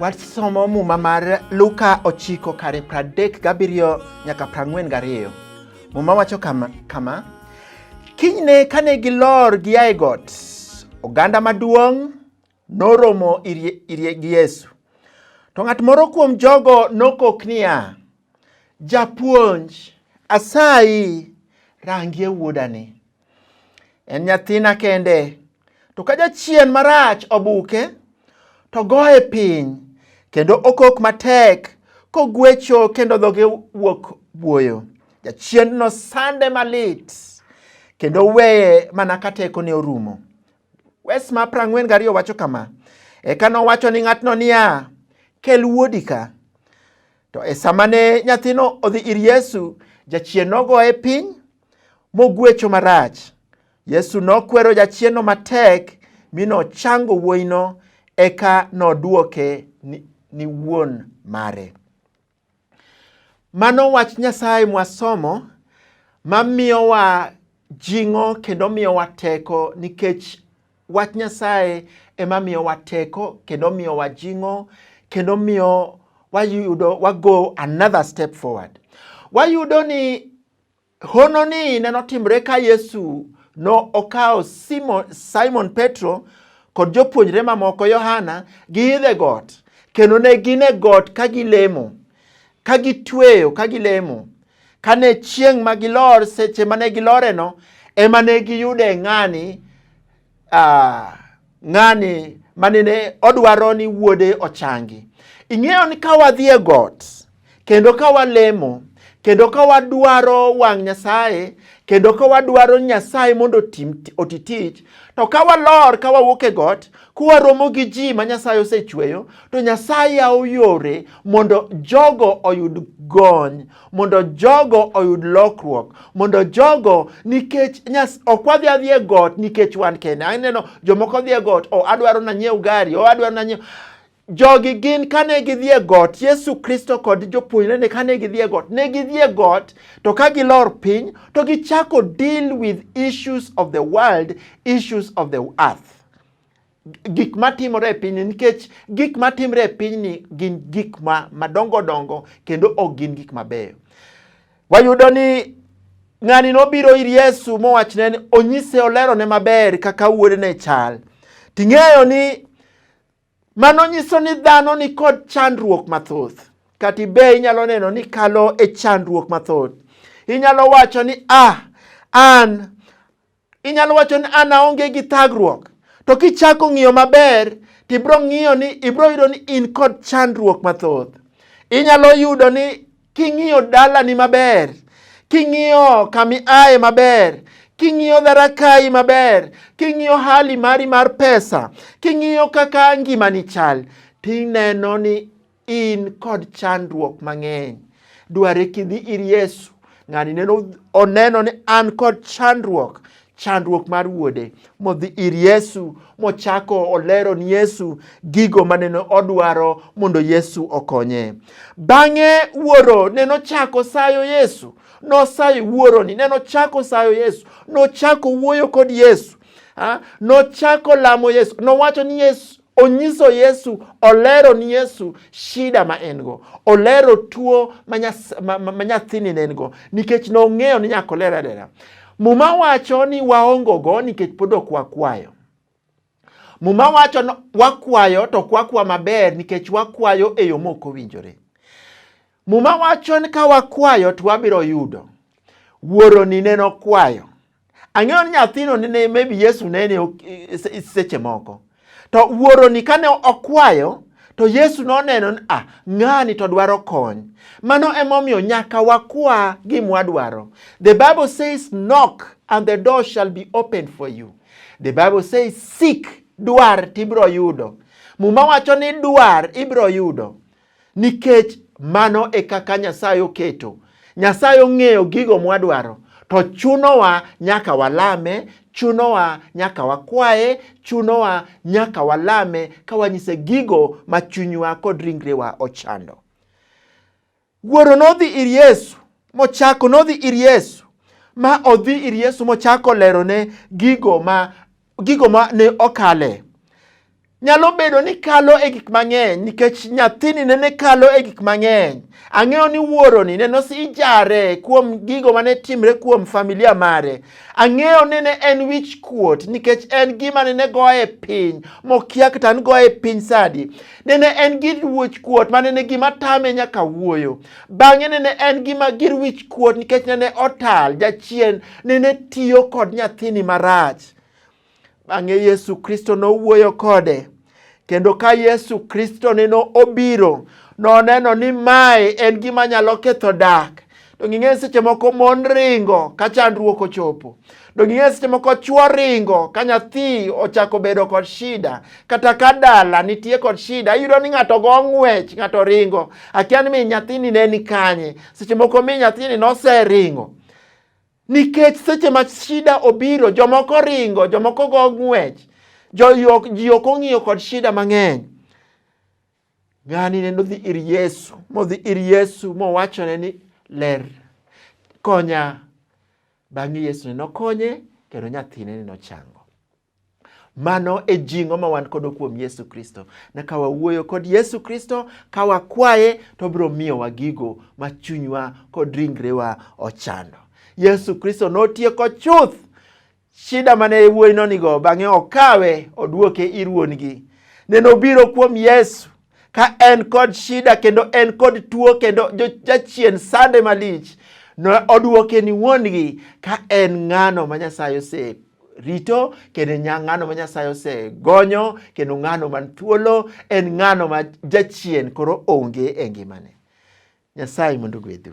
Wasomo muma mar Luka ochiko kare pradek gabiriyo nyaka prang'wen gariyo. Muma wacho kama, kama kinyne kane gilor giaye got, oganda maduong' Noromo irie gi Yesu. To ng'at moro kuom jogo nokok niya, Japuonj, asayi rangie wuodani. En nyathina kende, to ka jachien marach obuke, to goye piny, kendo okok matek kogwecho kendo dhoge wuok buoyo. Jachiendno sande malit, kendo weye mana ka tekone orumo. Wes ma prang'wen gariyo wacho kama, Eka nowacho ni ng'atno niya, kel wuodi ka. To e sama ne nyathino odhi ir Yesu, jachien nogoye piny mogwecho marach. Yesu nokwero jachienno matek mi nochango wuoyino eka nodwoke ni, ni wuon mare. Mano wach Nyasaye mwasomo ma miyowa jing'o kendo miyowa teko nikech wach Nyasaye ema miyowa teko kendo miyowa jing'o kendo miyo wayudo wago another step forward. Wayudo ni Hono ni ne notimre ka Yesu no okawo Simon, Simon Petro kod jopuonjre mamoko Yohana giidho e got kendo ne gin e got ka gilemo ka gitweyo ka gilemo kane chieng' ma gilor seche mane giloreno ema ne giyude ng'ani uh, ng'ani manene odwaro ni wuode ochangi. Ing'eyo ni ka wadhi e got kendo ka walemo kendo ka wadwaro wang' Nyasaye kendo ka wadwaro Nyasaye mondo oti tich to ka walor ka wawuok e got kwaromo gi ji ma Nyasaye osechweyo to Nyasaye yawo yore mondo jogo oyud gony mondo jogo oyud lokruok mondo jogo nikech nyas ok wadhi adhi e got nikech wan kende aneno jomoko dhi e got o oh, adwaro nanyiew gari o oh, adwaro nanyiew jogi gin kane gidhi e got yesu kristo kod jopuonjrene kane gidhi e got ne gidhi e got to ka gilor piny to gichako deal with issues of the world issues of the earth gik matimore e pinyni nikech gik matimre e pinyni gin gik ma madongo dongo kendo ok gin gik mabeyo. Wayudo ni ng'ani nobiro ir Yesu mowachne ni onyise olerone maber kaka wuodene chal. Ting'eyo ni mano nyiso ni dhano ni kod chandruok mathoth. Kati be inyalo neno ni kalo e chandruok mathoth. Inyalo wacho ni ah, an Inyalo wacho ni an aonge gi thagruok, to kichako ng'iyo maber to ibiro ng'iyo ni ibiro yudo ni in kod chandruok mathoth. Inyalo yudo ni king'iyo dalani maber, king'iyo kami aye maber, king'iyo dharakayi maber, king'iyo hali mari mar pesa, king'iyo kaka ngimani chal, tineno ni In kod chandruok mang'eny. Dware kidhi ir Yesu. Ng'ani neno oneno ni an kod chandruok chandruok mar wuode modhi ir Yesu mochako olero ni Yesu gigo maneno odwaro mondo Yesu okonye. Bang'e wuoro neno chako sayo Yesu nosayo wuoroni ne nochako sayo yesu nochako wuoyo kod yesu ha? nochako lamo yesu nowacho ni yesu Onyiso Yesu, olero ni Yesu shida ma en go, olero tuo ma nyathini ne en go, nikech nong'eyo ni nyaka oler alera. Muma wacho ni waongogo nikech pod ok wakwayo. Muma wacho ni wakwayo to ok wakwa maber nikech wakwayo e yo ma ok owinjore. Muma wacho ni ka wakwayo to wabiro yudo. Wuoroni ne nokwayo. Ang'eyo ni nyathino ne maybe Yesu ne ne seche moko. To wuoroni kane okwayo to Yesu noneno ni ah, ng'ani to dwaro kony. Mano emomiyo nyaka wakwa gima wadwaro. The Bible says knock and the door shall be open for you. The Bible says seek, dwar tibiro yudo. Muma wacho ni dwar ibiro yudo. nikech mano e kaka Nyasaye oketo. Nyasaye ong'eyo gigo mwadwaro, to chunowa nyaka walame, chunowa nyaka wakwaye, chunowa nyaka walame ka wanyise gigo ma chunywa kod ringrewa ochando. Wuoro nodhi ir Yesu mochako nodhi ir Yesu ma odhi ir Yesu mochako lerone gigo ma gigo ma ne okale. Nyalo bedo ni kalo e gik mang'eny nikech nyathini nene kalo e gik mang'eny. Ang'eyo ni wuoroni ne nosijare kuom gigo mane timre kuom familia mare. Ang'eyo ni ne en wich kuot nikech en gima nene goye piny mokia kata an goye piny sadi. Nene en gi wich kuot ma nene gima tame nyaka wuoyo. Bang'e nene en gi mager wich kuot nikech nene otal jachien nene tiyo kod nyathini marach. Bang'e Yesu Kristo nowuoyo kode kendo ka Yesu Kristo nene obiro noneno ni mae en gima nyalo ketho dak to nging'e seche moko mon ringo ka chandruok ochopo Do ging'e seche moko chwo ringo ka nyathi ochako bedo kod shida kata ka dala nitie kod shida iyudo ni ng'ato go ng'wech ng'ato ringo akia ni min nyathini ne ni kanye seche moko min nyathini noseringo nikech seche ma shida obiro jomoko ringo jomoko go ng'wech ji ok ong'iyo kod shida mang'eny ng'ani ne nodhi ir yesu modhi ir yesu mowachone ni ler konya Bang'e Yesu ne nokonye kendo nyathine ne nochango. Mano e jing'o ma wan kodo kuom Yesu Kristo. Ne ka wawuoyo kod Yesu Kristo, ka wakwaye, to obiro miyowa gigo ma chunywa kod ringrewa ochando. Yesu Kristo notieko chuth shida mane wuoyi nonigo, bang'e okawe oduoke ir wuon-gi. Ne nobiro kuom Yesu ka en kod shida kendo en kod tuo kendo jachien sande malich ne oduoke ni wuon-gi ka en ng'ano ma Nyasaye ose rito kendo ng'ano ma Nyasaye osegonyo kendo ng'ano man thuolo en ng'ano ma jachien koro onge e ngimane. Nyasaye mondo ogwedhu.